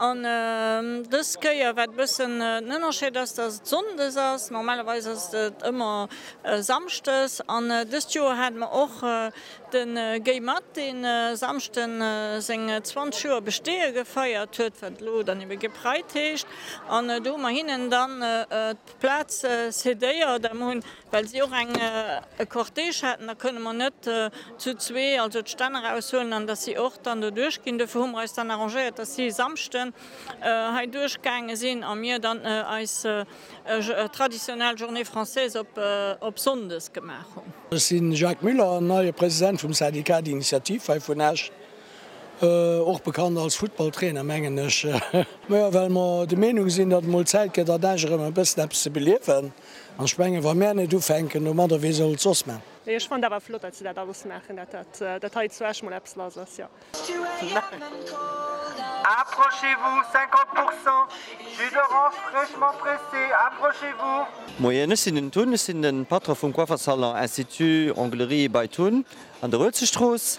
An dës Kéier, wat e bëssen den Ënnerscheed ass, dass et sonndes ass, normalerweis ass et ëmmer samschdes. An dëst Joer hate mer och de Guy Math, deen e Samschde seng 20 Joer Besteeë gefeiert huet, wat elo dann ebe Gay Pride heescht. An do hu mer hinnen dann d'Plaz cedéiert a mer hunn Well si och eng e Cortège haten, da kënne mer net zu zwee also d'Stänn eraushuelen an dass si och dann do duerchginn. Dofir hu mer eis dann arrangéiert, dass si e Samschden hei duerchgaange sinn a mir dann eis traditionell Journée française op sonndes gemaach hunn. Ech si Jacques Müller, neie President vum Syndicat d'Initiative hei vun Esch, och bekannt als Futtballtrainer, mengen ech. Majo, well mer de Meenung sinn, datt et mol Zäit gëtt an Esch erëm e bëssen eppes ze beliewen. An ech mengen, wa mär net ufänken domadder, wee soll et soss man? Jo, ech fannen dat awer flott, datt se dat alles maachen, datt dat hei zu Esch mol eppes lass ass, jo. Approchez-vous, 50 pourcents jus d'orange fraîchement pressé, approchez-vous. Moien, ech sinn den Tun, ech sinn de Patron vum Coiffersalon Institut Onglerie bei Tun an der Uelzechtstrooss.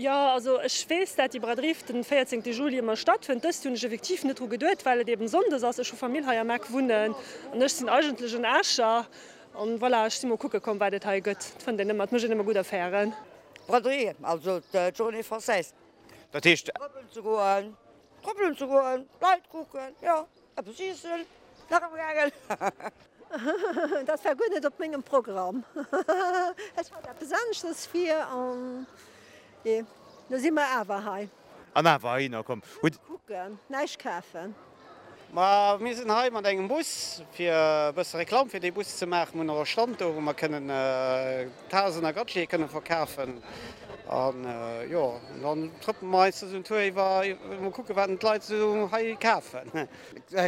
Jo, also ech weess, dat déi Braderie fir den 14 Juli ëmmer stattfënnt. Dëst Joer hunn ech effektiv net dru geduet, well et eben Sonndes ass. Ech hu Famill hei am Eck wunnen an ech sinn eigentlech en Escher. An voilà, ech sinn mol kucke komm, wat et hei gëtt. Et fënnt een ëmmer, et mécht een ëmmer gutt Affären. Braderie, also d'Journée française. Dat heescht. Trëppelen ze goen, trëppelen ze goen, Leit kucken, jo. Eppes iessen, nach e Bragel. Dat war guer net op mengem Programm. Ech hat eppes aneschters vir an jo, lo si mer awer hei. An awer hei na komm. Hutt. Kucken, näischt kafen. Ma mir sinn hei mat engem Bus, fir e bësse Reklam fir dee Bus ze maachen. Mir hunn och e Stand do, wou mer kënnen Tasen a Gadgete kënne verkafen. An jo, dann trëppele mer eis duerch den Tour iwwer a mol kucke wat d'Leit esou hei kafen.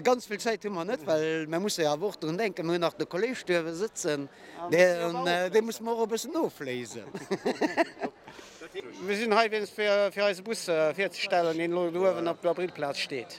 Ganz vill Zäit hu mer net, well mer musse jo awer och drun denken, mer hunn nach de Kolleeg duerwe sëtzen, dee musse mer och e bëssen ofléisen. Mir sinn hei wéinst fir eise Bus virzestellen, deen elo do uewen op der Brill-Plaz steet.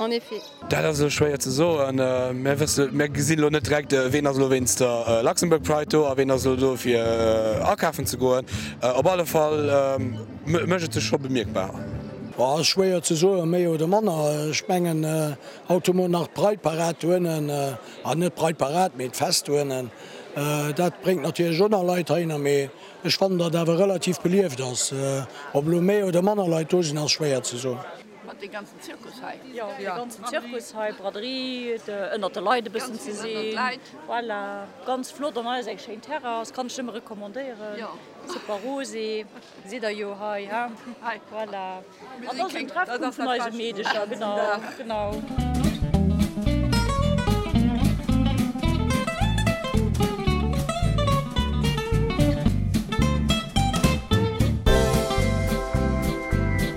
En effet. Dat ass elo schwéier ze soen. Mir wësse, mir gesinn elo net direkt, ween ass elo wéinst der Luxembourg Pride do a ween ass elo do fir akafen ze goen. Op alle Fall mécht et sech scho bemierkbar. Boah, ass schwéier ze soen, méi oder manner. Ech mengen, haut hu mer nach d'Pride Parade dohinnen, a net d'Pride Parade, mee d'Fest dohinnen. Dat bréngt natierlech och nach Leit heihinner, mee ech fannen, datt et awer relativ belieft ass. Ob elo méi oder manner Leit do sinn, ass schwéier ze soen. Mat dee ganzen Zirkus hei. Jo, dee ganzen Zirkus hei, Braderie, de ënnert de Leit e bëssen ze sinn, voilà, ganz flott an eis eng schéin Terrass, kann ech nëmme recommandéieren, super rosé, sidd der jo hei, he, voilà, an da ass en Treffpunkt vun eise Meedecher, genau, genau.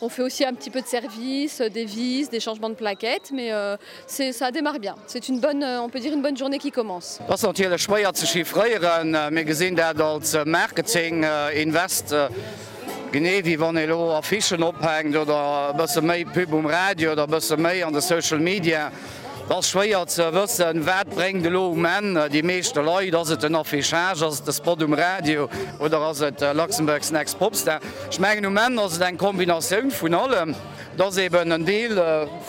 On fait aussi un petit peu de service, des vis, des changements de plaquettes mais c'est ça démarre bien, c'est une bonne, on peut dire une bonne journée qui commence. Dat ass natierlech schwéier ze chiffréieren. Mir gesinn dat als Marketing Invest, genee wéi wann ee elo Affichen ophänkt oder e bësse méi Pub um Radio oder e bësse méi an de Social Media. Et ass schwéier ze wëssen, wat bréngt elo um Enn déi meeschte Leit. Ass et den Affichage, ass et de Spot um Radio oder ass et Luxembourg's Next Popstar? Ech mengen um Enn ass et eng Kombinatioun vun allem. Et ass eben en Deel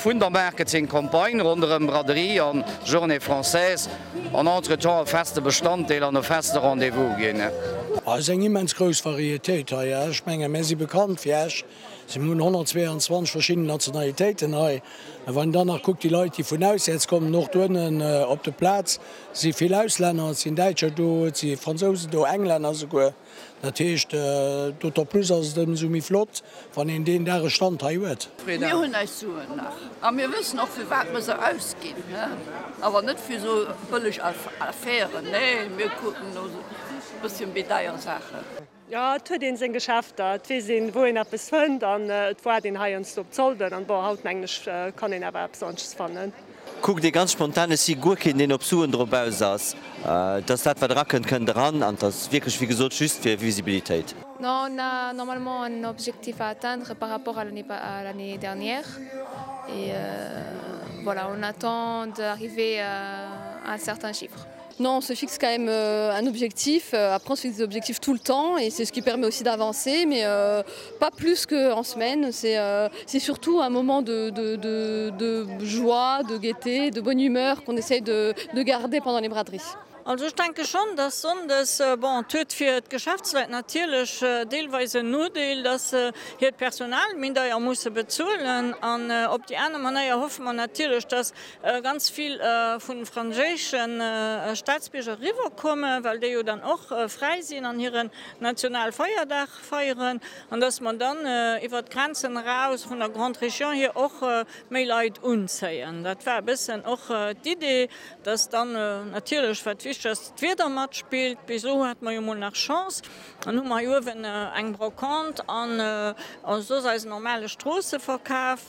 vun der Marketing-Campagne ronderëm Braderie an Journée Française an entretemps e feste Bestanddeel an e feste Rendez-vous ginn. Ass eng immens grouss Varietéit hei. Ech menge mär si bekannt fir Esch. Si hunn 122 verschidden Nationalitéiten hei. A wann een dann nach kuckt, déi Leit, déi vun auswäerts kommen, och do ënnen op de Plaz si vill Auslänner, et sinn Däitscher do, et si Fransousen do, Englänner souguer. Dat heescht, d'autant plus ass et ëmsou méi flott, wann een deen Dag e Stand hei huet. Mir hunn eis Suen nach a mir wëssen och, fir wat mir se ausginn. Awer net fir esou bëlleg Affären, nee, mir kucken no e bësschen méi deier Saachen. Jo, et huet een seng Geschäfter, et weess een, wou een eppes fënnt an et waart een heiansdo op d'Solden an bon, haut mengen ech, kann een awer eppes anescht fannen. Kuckt ee ganz spontan, ech si guer keen, deen op Suen drop aus ass, dass dat, wat erakënnt, kënnt eran an t'ass wierklech, wéi gesot, just fir Visibilitéit. Non, on a normalement un objectif à atteindre par rapport à l'année dernière et voilà, on attend d'arriver à un certain chiffre. Non, on se fixe quand même un objectif, après on se fixe des objectifs tout le temps et c'est ce qui permet aussi d'avancer mais pas plus que en semaine, c'est c'est surtout un moment de de de de joie, de gaieté, de bonne humeur qu'on essaye de de garder pendant les braderies. Also ech denke schonn, dass sonndes, bon, et huet fir d'Geschäftsleit natierlech deelweis en Nodeel, dass se hiert Personal méi deier musse bezuelen an op déi aner Manéier hoffe mer natierlech, dass, ganz vill vun den franséischen Staatsbierger eriwwer kommen, well déi jo dann och fräi sinn an hiren Nationalfeierdag feieren, an dass mer dann iwwert d'Grenzen eraus vun der Grande Région hier och méi Leit unzéien. Dat war e bëssen och d'Idee, dass dann natierlech, wat wichteg ass, d'Wieder matspillt. Bis elo hate mer jo mol nach Chance, dann hu mer hei uewen eng Brocante an soss eisen normale Stroosseverkaf.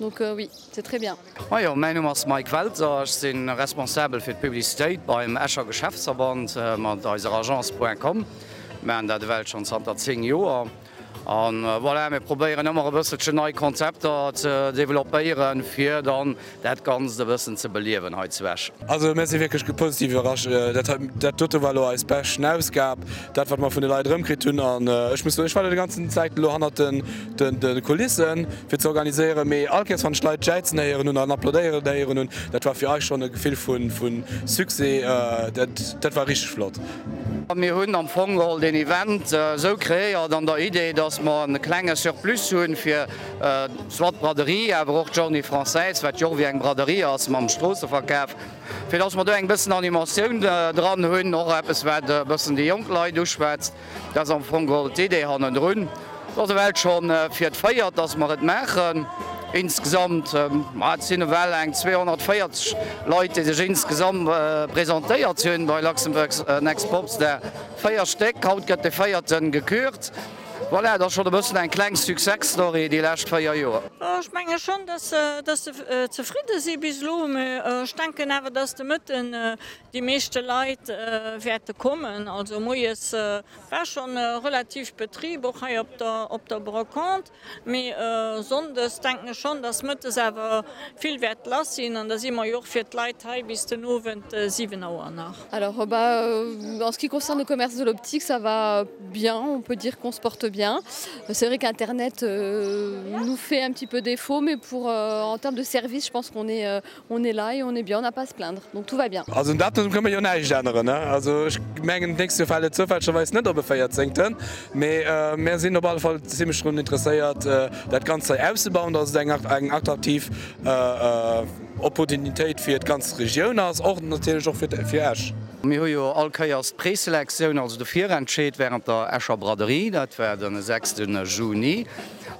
Donc oui, c'est très bien. Majo, mäin Numm ass Mike Welter, ech si responsabel fir d'Publicitéit beim Escher Geschäftsverband. Mat eiser Agence Point Com maachen dat ewell schonn zanter 10 Joer. A voilà, mir probéieren ëmmer e bësselchen nei Konzepter ze developpéieren, fir dann dat Ganzt e bëssen ze beliewen hei zu Esch. Also mir si wierklech positiv iwwerrascht. Dat hei, dat dote war elo eis beschten Ausgab, dat wat mer vun de Leit erëmkritt hunn. An ech muss soen, ech war elo déi ganzen Zäit elo hannert de Kulissen. Fir ze organiséieren, mee all Kéiers wann ech Leit jäizen héieren hunn an applaudéieren héieren hunn, dat war fir eis schonn e Gefill vu Succès. Dat war richteg flott. Mir hunn am Fong geholl den Event esou kreéiert an der Idee, dass mer e klenge Surplus hu fir soit d'Braderie, awer och d'Journée française, wat jo och ewéi eng Braderie ass, mam Stroosseverkaf, fir dass mer do eng bëssen Animatioun dran hunn, och eppes wat e bëssen déi jonk Leit uschwätzt. Dat ass am Fong geholl d'Idee hannendrun. Et ass ewell schonn fir d'véiert, dass mer et maachen. Insgesamt, ma et sinn ewell eng 240 Leit, déi sech insgesamt presentéiert hunn bei Luxembourg Next Popstar, véier Stéck. Haut gëtt de véierte gekürt. Voilà, et ass schonn e bëssen eng kleng Success-Story déi lescht véier Joer. Ech menge schonn, dass se zefridde si bis elo. Mee ech denken awer, dass de Mëtten Déi meeschte Leit wäerte kommen. Also moies war scho relativ Betrib, och hei op der Brocante. Mee sonndes denken ech schonn, dass mëttes awer vill wäert lass sinn. An da si mer jo och fir d'Leit hei bis den Owend 7 Auer nach. Alors en ce qui concerne le commerce de l'optique, ça va bien, on peut dire qu'on se porte bien. C'est vrai qu'internet nous fait un petit peu défaut, mais pour en termes de service, je pense qu'on est On est là et on est bien, on n'a pas à se plaindre, donc tout va bien. Also un Datum kënne mer jo näischt änneren. Also ech mengen, d'nächst Joer fält et zoufällegerweis net op e Véierzéngten, mee mer sinn op alle Fall zimlech drun interesséiert, dat Ganzt hei auszebauen, dass et eng attraktiv Opportunitéit fir d'ganz Regioun ass, och natierlech och fir Esch. Mir hu jo all Kéiers d'Preselektioun, also de Virentscheed, wärend der Escher Braderie, dat war den 6 Juni,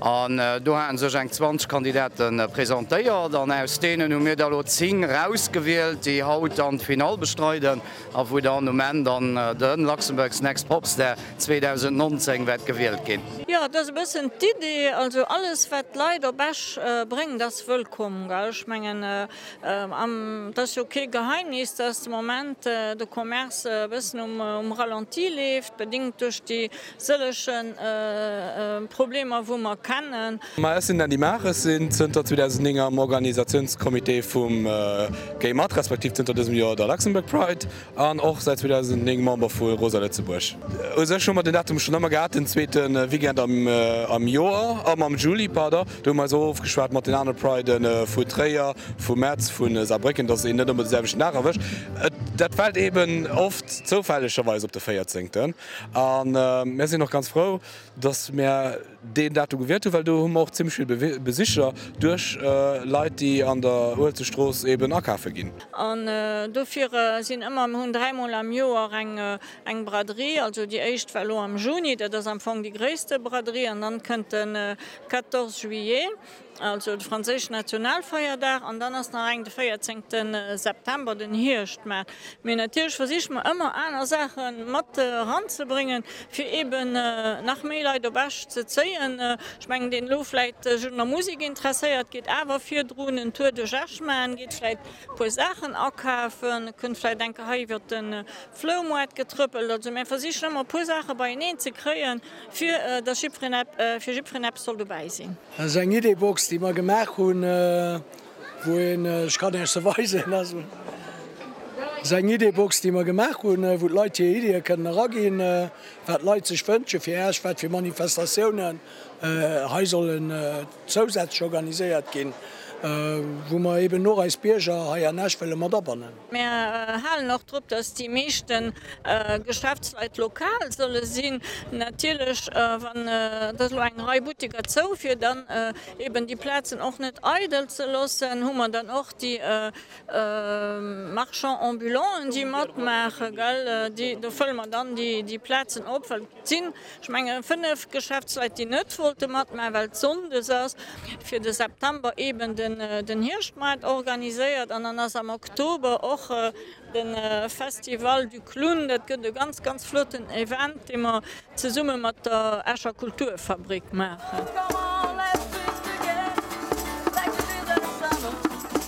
An do haten sech eng 20 Kandidate presentéiert an aus deenen hu mir der elo 10 rausgewielt, déi haut dann d'Finall bestreiden a wou dann um Enn dann de Luxembourg's Next Popstar 2019 wäert gewielt ginn. Jo, dat ass e bëssen d'Idee. Also alles, wat d'Leit op Esch bréngt, ass wëllkomm. Ech mengen, et ass jo kee Geheimnis, dass de Moment de Commerce e bëssen um Ralenti leeft, bedéngt duerch déi Sëllege Problemer wou mer kennen. Ma ech sinn Andy Maag, ech sinn zënter 2009 am Organisatiounscomité vum Gay mat, respektiv zënter dësem Joer der Luxembourg Pride an och säit 2009 Member vu Rosa Lëtzebuerg. U sech hu mer den Datum schonn ëmmer gehat, den zweete Weekend am Joer, am am Juli, pardon. Do hu mer eis och ofgeschwat mat den anere Pride vu Tréier, vu Metz, vu Saarbrécken, dass een net ëmmer de selwechten Dag erwëscht. Dat fält eeben oft zoufällegerweis op de véierzehnten. A mär sinn och ganz frou, dass mär deen Datum gewielt hunn, well do hu mer och zimmlech vill Besicher duerch Leit, déi an der Uelzechtstrooss eeben akafe ginn. An dofir sinn ëmmer, mir hunn dräi Mol am Joer eng Braderie. Also déi éischt war elo am Juni, dat ass am Fong déi gréisste Braderie, an dann kënnt de 14 Juillet. Also de franséischen Nationalfeierdag an dann ass nach eng de 14 te September, den Hierschtmaart. Mee natierlech versiche mer ëmmer aner Saache mat eranzebréngen, fir eeben nach méi Leit op Esch ze zéien. Ech mengen, deen elo vläit sech un der Musek interesséiert, geet awer virdrun en Tour duerch Esch maachen, geet vläit e puer Saachen akafen, kënnt vläit eng Kéier hei iwwert de Floumoart getrëppelt. Also mir versichen ëmmer e puer Saache beieneen ze kréien. Fir dass jiddferen ep, fir jiddferen eppes soll dobäi sinn. Dat ass eng Idee-Box, déi mer gemaach hunn, wou een, ech kann Iech se weisen, dat ass eng Idee-Box, déi mer gemaach hunn, wou d'Leit hir Ideeë kënnen eraginn, wat d'Leit sech wënsche fir Esch, wat fir Manifestatiounen hei sollen zousätzlech organiséiert ginn, wou mer eeben och eis Bierger hei an Esch wëlle mat abannen. Mär halen och drop, dass déi meeschte Geschäftsleit lokal solle sinn. Natierlech, wann et elo eng Rei Butteker zou, fir dann eeben déi Plazen och net eidel ze loossen, hu mer dann och déi Marchands ambulants, déi matmaachen. Do fëlle mer dann déi Plazen op. Et sinn, ech mengen, fënnef Geschäftsleit, déi net wollte matmachen, well et sonndes ass. Fir de September eeben den Hierschtmaart organiséiert an dann ass am Oktober och de Festival du Clown. Dat gëtt e ganz, ganz flotten Event, dee mer zesumme mat der Escher Kulturfabrik maachen.